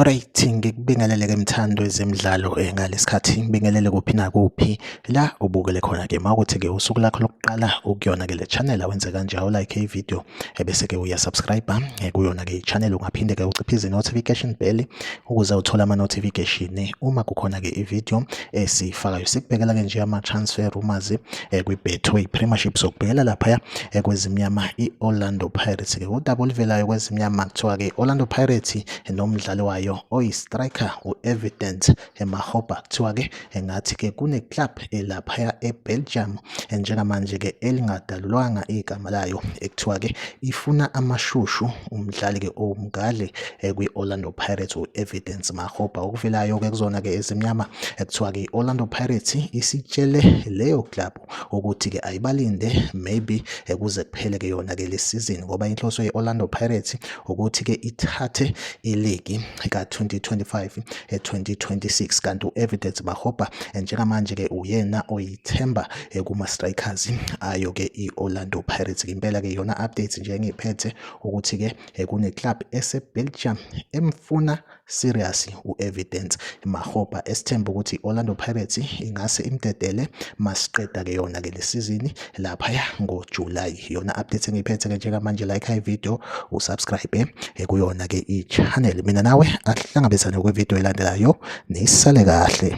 Alright ngikubingelele ke mthando ezemidlalo eh, ngalesikhathi ngibingelele kuphi nakuphi la ubukele khona ke mawukuthi ke usuku lakho lokuqala ukuyona ke le channel awenze kanje awu like i video ebese ke uya subscribe eh, kuyona ke channel ungaphinde ke uciphize notification bell ukuze uthole ama notification eh, uma kukhona ke i video esifakayo sikubhekela ke nje ama transfer rumors eh, kwi Betway Premiership sokubhekela lapha kwezimnyama i Orlando Pirates ke udaba olivelayo kwezimnyama kuthiwa ke Orlando Pirates nomdlali wayo oyi striker u Evident emahoba kuthiwa-ke engathi-ke kune-club elaphaya e-belgium njengamanje-ke elingadalulwanga igama layo ekuthiwa-ke ifuna amashushu umdlali-ke owumgadli eh, kwi-orlando pirates u-evidence mahoba okuvelayo-ke kuzona-ke ezimnyama ekuthiwa-ke i-orlando pirates isitshele leyo club ukuthi ke ayibalinde maybe ekuze eh, kuphele ke yona ke lesizini ngoba inhloso ye-Orlando Pirates ukuthi ke ithathe iligi ka-2025 2026 eh, kanti u-Evidence Mahobha eh, njengamanje ke uyena oyithemba kuma-strikers ayo ke i-Orlando Pirates impela ke yona updates nje engiyiphethe ukuthi ke kune-club ese-Belgium emfuna seriously u-evidence mahopa esithemba ukuthi i-orlando pirates ingase imdedele masiqeda-ke yona-ke le sizini laphaya ngojulayi yona update engiyiphethe-ke njengamanje like high video usubscribe eh, kuyona-ke i-channel mina nawe asihlangabezane kwividiyo elandelayo nisale kahle